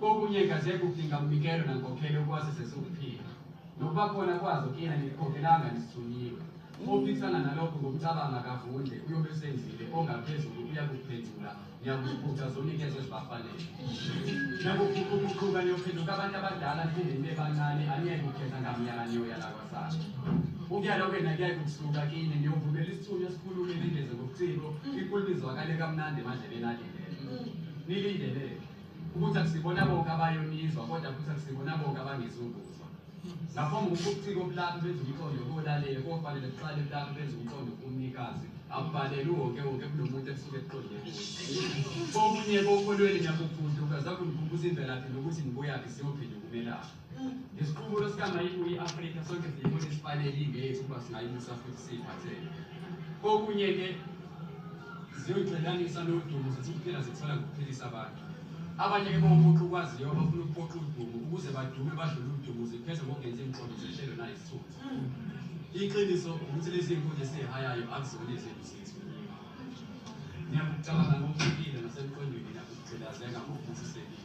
Kokunye kaze kudinga umnikelo nankokhelo ukwazise siwuphila. Nokuba khona kwazo kina nikukhokhelanga nisithunyiwe. Ophikisana nalokho ngomcabanga kavundle uyobe esenzile ongaphezulu uyakuphendula niyakuziphutha zonikezwe zibafanele. Niyakuqhuqhuqhuqhuka niyophenduka abantu abadala niphinde nibe bancane aniyeke ukukhetha ngamnyaka niyoya lakwasana. Ukuyala kwena kuyaye kukusuka kini niyovumela isithunywa esikhulume ningeze ngobuciko inkulumo izwakale kamnandi emadlebeni alindele. Nilindeleni? ukuthi akusibona bonke abayonizwa kodwa futhi akusibona bonke abangizukuzwa lapho ngokubuciko obulapha benza umqondo kolalele kofanele kuqale kulapha benza umqondo kumnikazi akubaleli wonke wonke kunomuntu esuke eqonde komunye kokholweni nyakufundi ukazakungikhumbuza imvelaphi nokuthi ngibuyaphi siyophinde ukumelaphi Isiqubulo sikaMayini kuyi-Afrika sonke siyibona isifanele ingeyethu ukuba singayimisa futhi siyiphathele. Kokunye-ke ziyoyixelanisa nodumo zithi kuphela zithola ngokuphilisa abantu. Abanye-ke bawumuntu ukwaziyo abafuna ukuphoxa udumo ukuze badume badlule udumo zipheze ngokungenzi imiqondo zehlelo nayisithunzi. Iqiniso ukuthi lezi nkuni esizihayayo akuzona ezethu zethu. Ngiyakucabanga ngokuhlukile nasemqondweni nakugqilazeka ngokuvusisekile.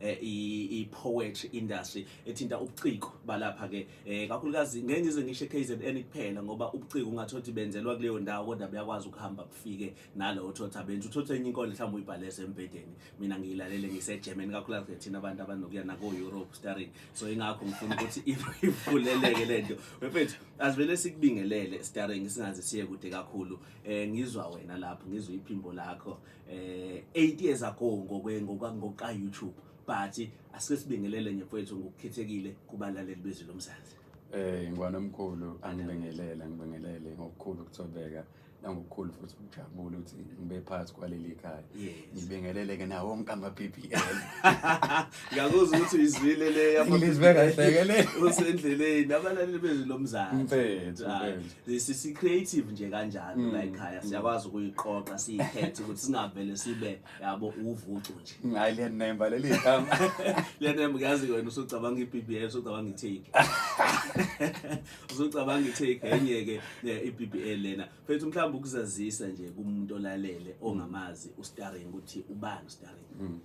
eh, i-poetry industry ethinta ubuciko balapha ke eh, kakhulukazi ngeke ngize ngisho KZN kuphela ngoba ubuciko ungathi othi benzelwa kuleyo ndawo kodwa buyakwazi ukuhamba kufike nalo uthotha benza uthotha enye inkondlo mhlawumbe uyibhalese embhedeni mina ngiyilalele ngiseGerman kakhulukazi thina abantu abanokuya nako Europe starring so ingakho ngifuna ukuthi ivuleleke lento mfethu asivele sikubingelele starring singaze siye kude kakhulu eh ngizwa wena lapho ngizwa iphimbo lakho eh 8 years ago ngokwe ngokuka YouTube but asike sibingelele nje mfowethu ngokukhethekile kubalaleli bezwi lomzansi eh ngwana omkhulu angibingelele ngibingelele ngokukhulu ukuthobeka nangokukhulu futhi ukujabula ukuthi ngibe phakathi kwaleli khaya ngibingelele ke nawo wonke ama PPL ngiyakuzwa ukuthi uyizwile le yama ngizwe kahle ke le usendleleni abalaleli bezwi lomzansi mfethu lesi si creative nje kanjalo mm. la ekhaya mm. siyakwazi ukuyiqoqa siyikhethe ukuthi singavele sibe yabo uvucu nje hayi liyanemba leli gama liyanemba uyazi wena usucabanga iBBL usucabanga iTake usucabanga iTake enye ke iBBL lena mfethu mhlawumbe ukuzazisa nje kumuntu olalele ongamazi uStarring ukuthi ubani uStarring mm.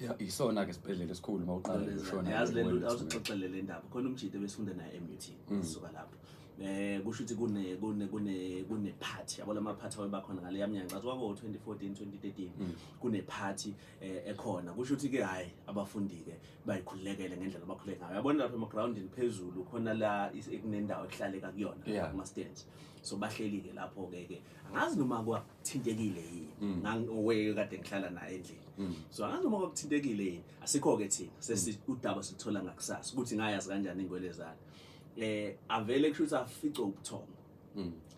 Ya- Yisona-ke isibhedlela esikhulu uma uqala ukushona. yazi le nto Wellness Center. awuxoxele le ndaba khona umjita ebesifunda naye emut Mm. suka lapho um kusho ukuthi kune- kune- kune- kune-party yabo lamaphathi aweba khona ngaleya mnyaka ngathi kwakuwo-2014 2013 Mm. kune-party um ekhona kusho ukuthi-ke hhayi abafundi-ke bayikhululekele ngendlela abakhuleke ngayo yabona lapho emagrawundini phezulu khona la is- kunendawo ekuhlaleka kuyona Yeah. kuma-stands so bahleli-ke lapho-ke-ke angazi noma kwa- thintekile yini mm. ngangoweke kade ngihlala naye endlini mm. so angazi noma kwakuthintekile yini asikho-ke thina mm. sesi udaba siluthola ngakusasa ukuthi ngayazi kanjani ingwelezane eh avele kusho ukuthi afice ubuthongo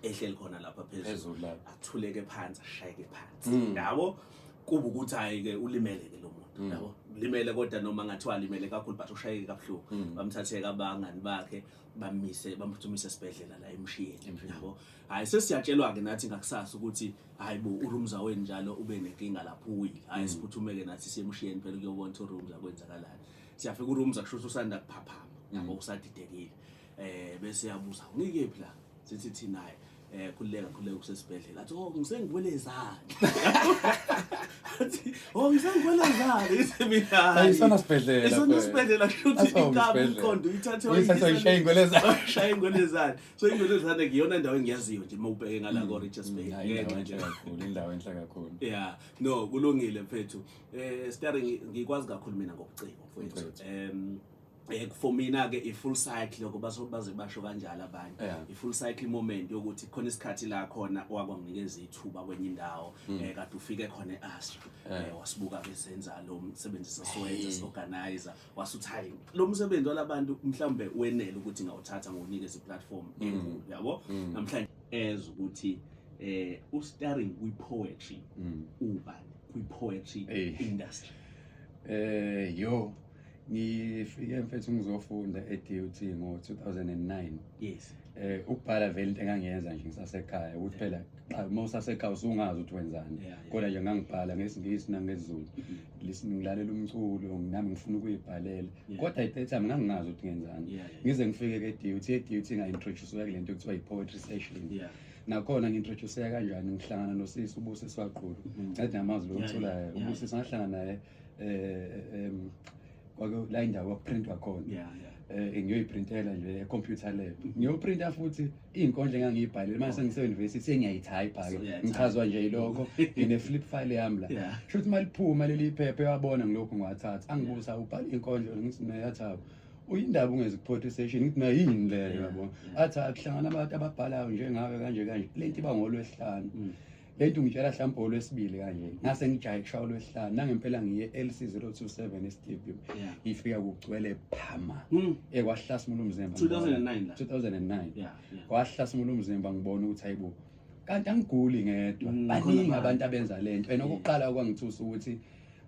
ehleli khona lapha phezulu athuleke phansi ashayeke phansi yabo kuba ukuthi hayi-ke ulimele-ke lo muntu yabo limele kodwa noma ngathiwa alimele kakhulu but ushayeke kabuhlungu bamthatheke abangani bakhe bamise bamphuthumise esibhedlela la emshiyeni yabo hayi sesiyatshelwa-ke nathi ngakusasa ukuthi hayi bo urumza wenu njalo ube nenkinga lapho uwile hayi mm. siphuthumeke nathi siyemushiyeni phela ukuyobona ukuthi urumza kwenzakalani siyafika urumza kusho ukuthi usanda kuphaphama mm. yabo usadidekile eh bese yabuza unikephi la sithi thina hayi eh khululeka khululeka usesibhedlela athi oh ngisengikwelezani athi oh ngisengikwelezani ithi mina ayisona sibhedlela isona sibhedlela kushuthi ikaba umqondo uyithathe uyithathe uyishaye ingwelezani shaye ingwelezani so indoda ezithanda ngiyona ndawo engiyaziyo nje uma ubheke ngala ko Richards Bay Hayi, indawo enhle kakhulu indawo enhle kakhulu yeah no kulungile mfethu eh starring ngikwazi kakhulu mina ngobuciko mfethu Mfethu. em eh for mina ke i full cycle lokho baso baze basho kanjalo abanye Yeah. i full cycle moment yokuthi khona isikhathi la khona wakwanginikeza ithuba kwenye indawo Hmm. eh kade ufike khona eAstra eh wasibuka besenza lo msebenzi sesiwenza siorganizer wasuthayi lo msebenzi walabantu mhlawumbe wenele ukuthi ngawuthatha ngokunikeza iplatform mm. enkulu yabo mm. namhlanje as ukuthi eh u starring kwi poetry mm. ubani kwi poetry industry eh yo ngifike mfethu ngizofunda e-DUT ngo-2009 yes eh ukubhala vele into engangiyenza nje ngisasekhaya ukuthi phela qha uma usasekhaya usungazi ukuthi wenzani Yeah, yeah. kodwa nje ngangibhala ngesingisi nangezulu Lis- ngilalela umculo nami ngifuna ukuyibhalela Yeah. kodwa at that time ngangingazi ukuthi ngenzani Yeah, yeah. ngize ngifike ke-dut e-dut nga-introduceka kule nto kuthiwa yi-poetry session Yeah. nakhona ngi-introduceka kanjani ngihlangana nosisi ubuse swaqulu Mm. ngathi namazwi Yeah, lokuthulayo yeah, yeah. ubusisi ngahlangana naye um kwake la indawo yokuprintwa khona yeah, yeah. Eh, ngiyoyiprintela nje computer lab mm-hmm. ngiyoprinta futhi iy'nkondlo engangiyibhalile manje sengiseyunivesithi sengiyayithayipha-ke ngichazwa nje yilokho ngine-flip file yami la sho ukuthi uma liphuma leli phepha ewabona ngilokhu ngiwathatha angibusa ubhala iy'nkondlo ngithi nayathaba uyindaba ungezikuphothi session ngithi nayo yini leyo yabo athi akuhlangana abantu ababhalayo njengawe kanje kanje le nto iba ngolwesihlanu mm. Lento ngitshela hlampe olwesibili kanje. Ngase ngijaye kushaya olwesihlanu. Nangempela ngiye LC027 eStadium. Yeah. Ngifika kugcwele phama. Mm. Eh kwahlasimula umzimba. 2009 la. 2009. Yeah. yeah. Kwahlasimula umzimba ngibona ukuthi hayibo. Kanti angiguli ngedwa. Mm, Baningi abantu abenza lento. And okuqala okwangithusa ukuthi yeah.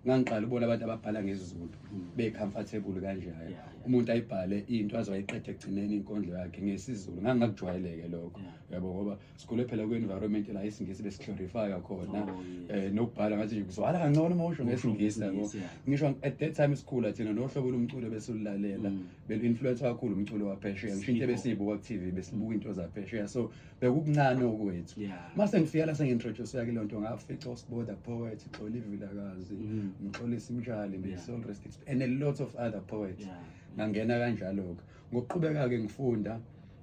ngangiqala ubona abantu ababhala ngesiZulu mm. be-comfortable kanjalo umuntu ayibhale into azowayiqeda ekugcineni inkondlo yakhe ngesiZulu ngangingakujwayeleke lokho yabo ngoba sikhule phela kwi-environment la isingisi besiglorifya khona um oh, eh, nokubhala ngathi nje kuzwala kancane uma usho ngesingisi labo ngisho at that time sikhula thina nohlobo lomculo besilulalela mm. belu-influence kakhulu umculo waphesheya ngisho into ebesiyibuka ku-tv besibuka into zaphesheya so bekukuncane okwethu uma sengifika la sengi-introduceya kile nto ngafica usiboda poet xola ivilakazi mm. mxolisa imtshali nge-soul rest and a lot of other poets ngangena kanjalo-ke ngokuqhubeka-ke ngifunda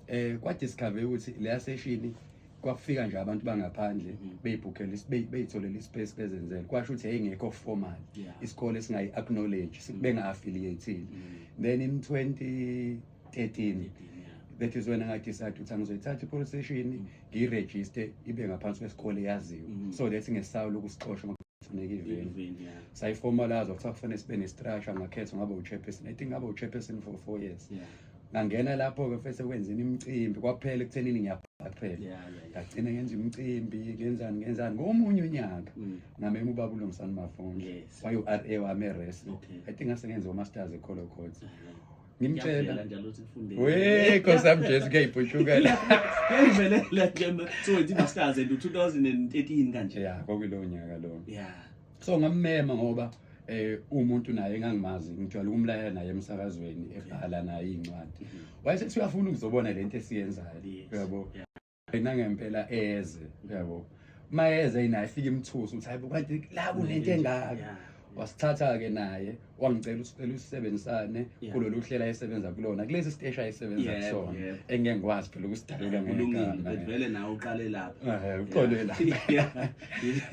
eh kwa discover ukuthi leya session kwafika nje abantu bangaphandle mm-hmm. beyibhukhela beyitholela ispace bezenzele kwasho ukuthi yayingekho formal isikole singayi acknowledge mm-hmm. benga affiliated mm-hmm. then in 2013 that is when I decided ukuthi angizoyithatha i-police station ngiyiregister ibe ngaphansi kwesikole yaziwe so that ngesawula ukusixosha kufuneka iveni sayiformalaza kuthiwa kufanele sibe ne-structure ngakhetha ngaba u-chairperson i think ngaba u-chairperson for four years yeah. ngangena lapho-ke fese kwenzeni imicimbi kwaphela ekuthenini ngiyabhaqhela ngagcina ngenza imicimbi ngenzani ngenzani ngomunye unyaka mm. ngamema ubaba ulungisani mafunde waye-r a wami eres i think ngase ngenze umasters ecolo court ngimtshela we nkosi yami jesu kuyayibhushuka la ngivelela ke so wethi masters and 2013 kanje ya kwakuyilowo nyaka lowo yeah so ngammema ngoba eh umuntu naye engangimazi ngijwayele ukumlayela naye emsakazweni ebhala naye incwadi mm-hmm. wayesethi uyafuna ukuzobona lento esiyenzayo uyabo yena ngempela eze uyabo mayeze yena efika imthuso uthi hayibo kanti la kunento mm-hmm. engaka wasithatha ke naye wangicela ukuthi ucela usisebenzisane Yeah. kulolu hlela esebenza kulona kulesi siteshi ayisebenza Yebo, kusona yebo. engeke ngikwazi phela ukusidalula kulungile ngegama. but vele nawe uqale lapho Eh, uqole la Yeah.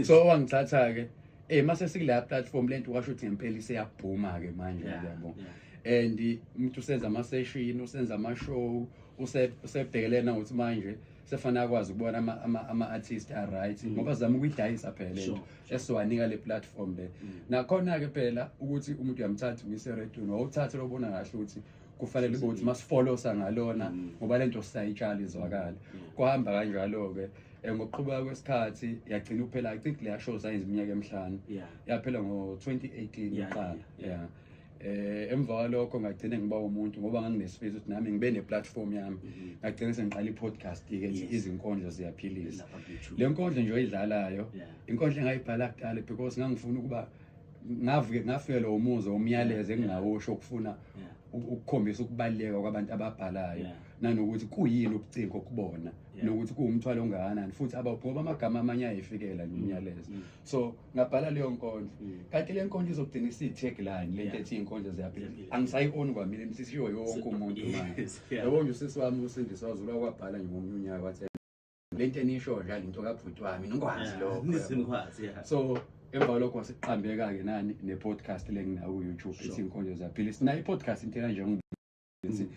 so wangithatha-ke um mase sikula platform le nto washo ukuthi ngempela iseyabhuma-ke manje Yeah, yabo yeah. and umuntu usenza amaseshini usenza amashow use- usebhekelele nangokuthi manje sefana akwazi ukubona ama- ama- ama-artist a-right ngoba zama ukuyidayisa phela le nto Mm. Sure. esiwanika le platform le mm. nakhona ke phela ukuthi umuntu uyamthatha umyise eredweni wawuthathe lobona kahle ukuthi kufanele kube ukuthi masifolosa ngalona mm. ngoba lento sisayitshala izwakala mm. kuhamba kanjalo-ke um ngokuqhubeka kwesikhathi yagcina uphela i think leya show sayenza iminyaka emihlanu yaphela ngo-2018 iqala ya eh emva kwalokho ngagcina ngiba umuntu ngoba nganginesifiso ukuthi nami ngibe neplatform yami mhm. ngagcina sengiqala ipodcast ke izinkondlo ziyaphilisa le nkondlo nje oyidlalayo inkondlo engayibhala kudala because ngangifuna ukuba ngavuke ngafikelwa umuzwa umyalezo engingawusho ukufuna ukukhombisa ukubaluleka kwabantu ababhalayo nanokuthi kuyini ukucingo kubona nokuthi kuwumthwalo ongakanani futhi abawugcoba amagama amanye ayifikela nomyalezo mm. so ngabhala leyo nkondlo mm. kanti le nkondlo izogcina isiyi-tagline le nto ethi iy'nkondlo ziyaphila angisayi-oni kwamina imsisiyo yonke umuntu manje yabo nje usisi wami usindiswa wazula kwabhala nje ngomunye unyaka wathi le nto enisho nje le nto kabhuti wami ningwazi lokho so emva kwalokho wasiqambeka-ke nani ne-podcast le nginaku-youtube ethi iy'nkondlo ziyaphila sinayo i-podcast intela njengoba ukuthi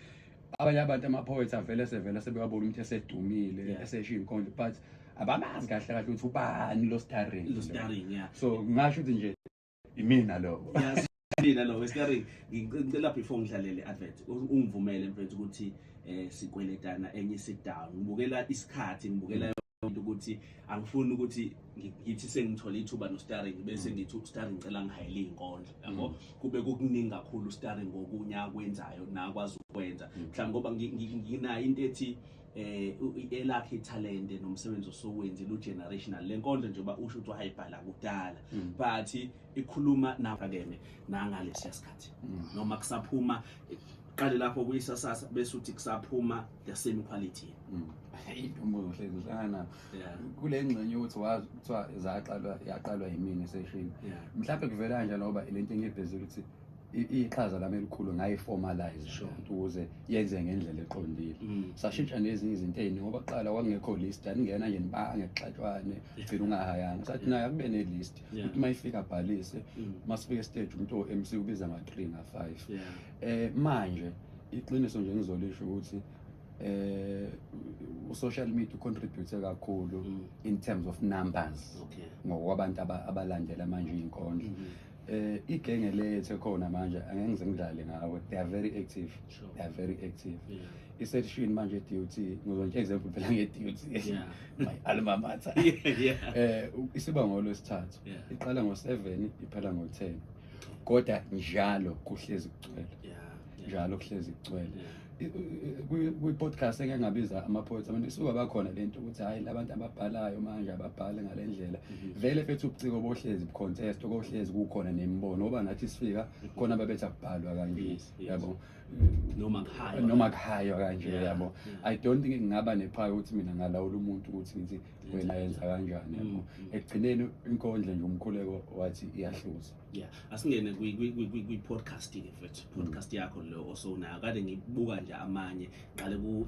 abanye abantu ama-poets avele sevele sebewabona ukuthi esedumile Yeah. esesho iy'nkondlo but abamazi kahle kahle ukuthi ubani lo starring Lo starring, yeah. so ngasho ukuthi nje imina lowo Mina lo wescaring ngicela before ngidlalele advert u- ungivumele mfethu ukuthi eh sikweletana enye sit down ngibukela isikhathi ngibukela into ukuthi angifuni ukuthi ngithi sengithole ithuba nostaring bese mm. ngithi ustaring ngicela ngihayele inkondlo yabo mm. kube kukuningi kakhulu ustaring ngokunya kwenzayo nakwazi ukwenza mm. mhlawumbe ngoba nginayo into ethi eh elakhe talent nomsebenzi osowenzi lu generational lenkondlo nje ba usho ukuthi wayibhala kudala but ikhuluma nafakene nangalesi sikhathi noma kusaphuma qale lapho kuyisasasa bese uthi kusaphuma the same quality mm. intombozo hlezi uhlangana nabo kule ngxenye ukuthi wazi kuthiwa zaqalwa yaqalwa yimina eseshini mhlawumbe kuvela kanje ngoba le nto engibhezi ukuthi iqhaza lami elikhulu ngayiformalize sure. ukuze yenze ngendlela eqondile mm. sashintsha nezinye izinto eyini ngoba kuqala kwakungekho list aningena nje nibange kuxatshwane ugcina ungahayanga sathi naye akube ne-list ukuthi uma ifika abhalise uma mm. sifika estage umuntu o-mc ubiza nga-three nga-five eh manje iqiniso nje ngizolisho ukuthi eh social media contribute kakhulu mm. in terms of numbers okay ngokwabantu abalandela manje inkondlo mm -hmm. eh igenge lethe khona manje angeke ngize ngidlale ngawe they are very active sure. they are very active yeah. isection manje DUT ngizonje example phela nge DUT yeah. my alma mater yeah, yeah. eh isibangolo lesithathu yeah. iqala ngo 7 iphela ngo 10 kodwa njalo kuhlezi kugcwele njalo kuhlezi kugcwele kwi-podcast eke ngabiza ama-poets abantu isuka bakhona le nto ukuthi hhayi labantu ababhalayo manje ababhale ngale ndlela mhm. vele fethu ubuciko bohlezi bu-contest okohlezi kukhona nemibono oba nathi sifika khona babethi akubhalwa kanje yabo noma kuhaywa kanje yabo i don't think ngingaba nephaya ukuthi mina ngalawula umuntu ukuthi ngithi wena yenza kanjani mm, mm. ekugcineni inkondla nje umkhuleko wathi iyahluza yeah asingene kwi podcast ke mfethu mm. podcast yakho lo osonayo kade ngibuka nje amanye qale ku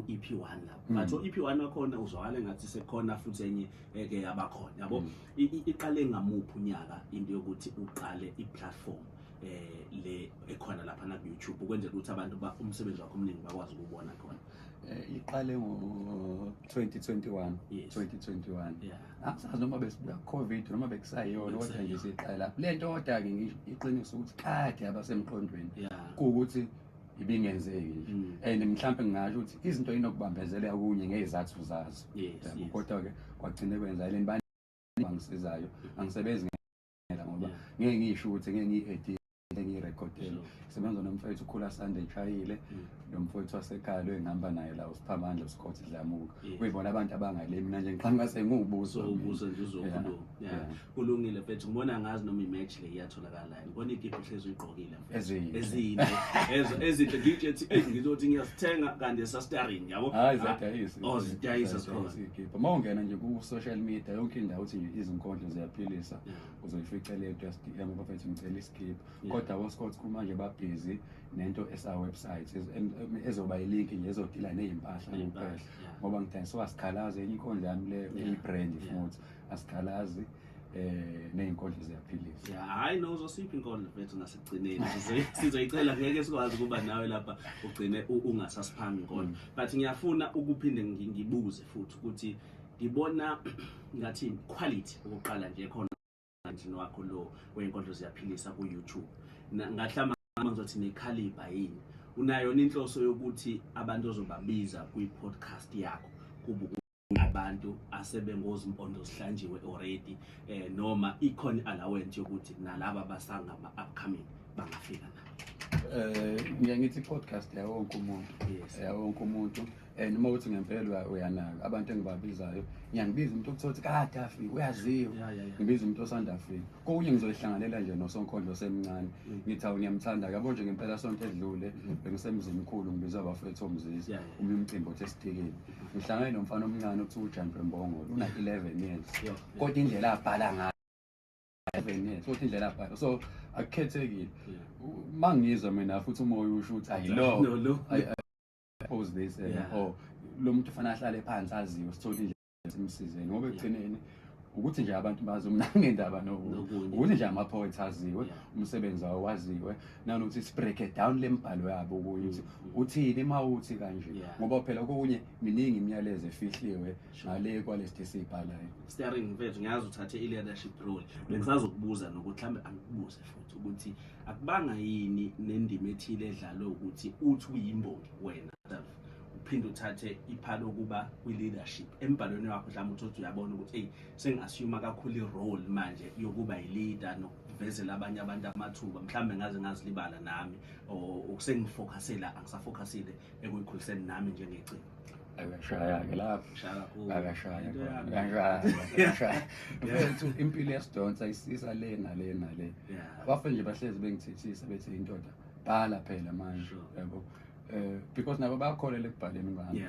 EP1 lapho but o EP1 wakhona uzwakala ngathi sekhona futhi enye eke eh, abakhona yabo iqale ngamuphi unyaka into yokuthi uqale i platform eh le ekhona lapha na YouTube ukwenzela ukuthi abantu ba umsebenzi wakho omningi bakwazi ukubona khona Eh, iqale ngo-2021 yes. 2021 yeah. angisazi noma besibuka covid noma bekusayona kodwa nje siqala le nto kodwa-ke iqiniso ukuthi kade abasemqondweni yeah. kuwukuthi ibingenzeki nje mm. and mhlawumbe ngingasho ukuthi izinto inokubambezeleka kunye ngey'zathu zazo yes, yes. kodwa-ke kwagcine kwenzakele ngisizayo angisebenzi ngiyamamela ngoba ngeke ngisho ukuthi ngeke ngiyi-edit engiyirekhodele sebenza nomfowethu ukhula sande eshayile mm. nomfowethu wasekhaya lo engihamba naye la usiphamandla usikhothi dlamuka kuyibona abantu abangale mina nje ngiqhamuka sengiwubuso ubuso nje uzokhuluma kulungile mfethu ngibona ngazi noma imatch le iyatholakala ngibona ikipa uhlezi uyigqokile Ezinhle. ezinhle Ezo- ezinhle DJ ethi "Ey, ngizothi ngiyasithenga kanti sasitaring yabo Hayi ziyadayisa. oh zidayisa zikhona Ikhipha. Uma ungena nje ku social media yonke indawo uthi nje izinkondlo ziyaphilisa. Yeah. Uzoyifica le just DM abafethu ngicela isikhipha. Yeah. Kodwa abo Scott Crew manje ba busy nento esa website ez- em- em- ezoba ilink nje ezodila nezimpahla kuphela. Ney'mpahla, yeah. Ngoba ngidayisa wasikhalazi enye inkondlo yami le Yeah. eyi brand Yeah. futhi asikhalazi eh nezinkondlo ziyaphilisa yeah hayi no uzosiphi inkondlo mfethu ngasigcineni sizoyicela ngeke sikwazi kuba nawe lapha ugcine ungasasiphambi inkondlo mm. but ngiyafuna ukuphinde ngibuze futhi ukuthi ngibona ngathi quality ukuqala nje khona kanjini wakho lo wenkondlo ziyaphilisa ku YouTube ngahlama ngizothi ne caliber yini unayo inhloso yokuthi abantu ozobabiza kwi podcast yakho kubuku abantu asebengozimpondo zihlanjiwe already eh, noma ikhona allowance yokuthi nalaba basangama upcoming bangafika na eh ngiye ngithi podcast ya wonke umuntu yes ya wonke umuntu and uma uthi ngempela uyanaka abantu engibabizayo ngiyangibiza umuntu okuthola ukuthi kade afike uyaziwa ngibiza umuntu osanda afika kokunye ngizoyihlanganela nje nosonkondlo semncane mm. ngithi awu ngiyamthanda yabo nje ngempela sonto edlule mm. bengisemzini mkhulu ngibiza abafethu omzizi uma umcimbi othe esithikile ngihlangane nomfana omncane okuthiwa ujantwe mbongolo una-eleven years kodwa indlela abhala ngayo eleven years kodwa indlela abhala so akukhethekile uma ngizwa mina futhi umoya usho ukuthi ayilo pose this and yeah. or lo muntu ufana ahlale phansi aziwe sithole indlela simsizeni ngoba ekugcineni ukuthi nje abantu bazi umnangendaba nokuthi nje ama-poets aziwe umsebenzi wawo waziwe nanokuthi sibreak it down le mbhalo yabo okunye ukuthi mm, mm. uthini uma uthi kanje ngoba phela okunye miningi imiyalezo efihliwe ngale kwalesi esiyibhalayo steering mfethu ngiyazi uthathe i-leadership role bengisazokubuza nokuthi mhlawumbe angikubuze futhi ukuthi akubanga yini nendima ethile edlalwe ukuthi uthi uyimbongi wena uphinde uthathe iphalo okuba kwi-leadership embhalweni wakho mhlawumbe uthi uthi uyabona ukuthi eyi sengi-assume kakhulu i-role manje yokuba yi-leader ngivezela abanye abantu amathuba mhlawumbe ngaze ngazilibala nami ukusengifocusela angisafocusile ekuyikhuliseni nami njengecini akashaya-ke laphoakashaya mfethu impilo yasidonsa isisa le nale nale bafe nje bahlezi bengithethisa bethi indoda bhala phela manje yabo um because nabo bakholele ekubhaleni kwami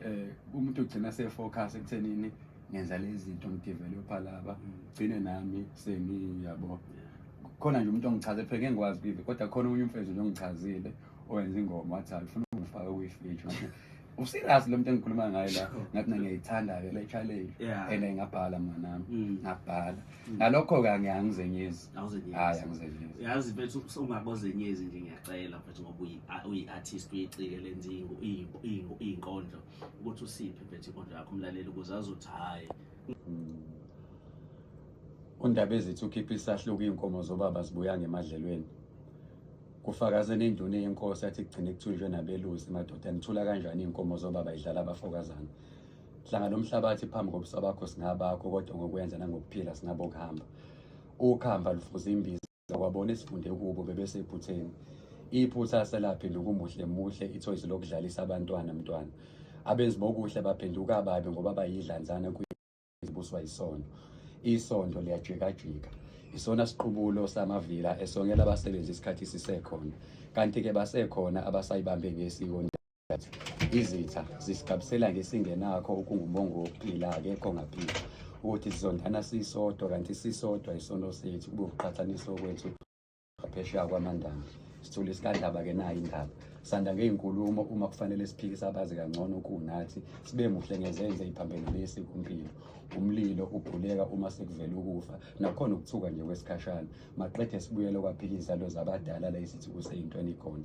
um umuntu ugcina sefocus ekuthenini ngenza lezinto ngidevelopha laba gcine nami sengiyabo khona nje umuntu ongichaze phela ngeke ngikwazi kuyive kodwa khona omunye umfethu nje ongichazile owenza ingoma wathi alifuna ungifake kuyifeature wathi userious lo muntu engikhuluma ngaye la ngathi mina ngiyayithanda-ke le challenge Yeah. and ngabhala mnganami Mm. ngabhala ngalokho-ke angi- angizenyezi Awuzenyezi. hhayi angizenyezi yazi mfethu ungakozenyezi nje ngiyacela mfethu ngoba uyi- a- uyi-artist uyicike lenza iyingo- iyingo- iyingo- iyinkondlo ukuthi usiphi phethe inkondlo yakho umlaleli ukuze azothi hhayi undaba ezithi ukhipha isahluko iy'nkomo zobaba zibuya ngemadlelweni kufakaze nenduna yenkosi athi kugcine kuthunjwe nabelusi madoda nithula kanjani iy'nkomo zobaba idlala abafokazana hlanga lo mhlabathi phambi kobusa bakho singabakho kodwa ngokwenza nangokuphila singabokuhamba ukuhamba lufuza imbiza kwabona esifunde kubo bebesephutheni iphutha selaphinda ukumuhle muhle ithoyizi lokudlalisa abantwana mntwana abenzi bokuhle baphenduka ababi ngoba bayidlanzana kuyibuswa isondo isondo liyajikajika isona siqubulo samavila esongela abasebenzi isikhathi sisekhona kanti-ke basekhona abasayibambe ngesiko izitha zisigabisela-ke singenakho okungumongo wokuphila-ke kongaphila ukuthi sizondana sisodwa kanti sisodwa isono sethu kube ukuqhathaniswa kwethu ngaphesheya kwamandana sithole sikadlaba-ke nayo indaba sanda ngey'nkulumo uma kufanele siphikise abazi kangcono kunathi sibe muhle ngezenze iphambenelesi kumpilo umlilo ubhuleka uma sekuvela ukufa nakhona ukuthuka nje kwesikhashana maqede sibuyele kwaphika izalo zabadala la isithuku seyintweni ikhona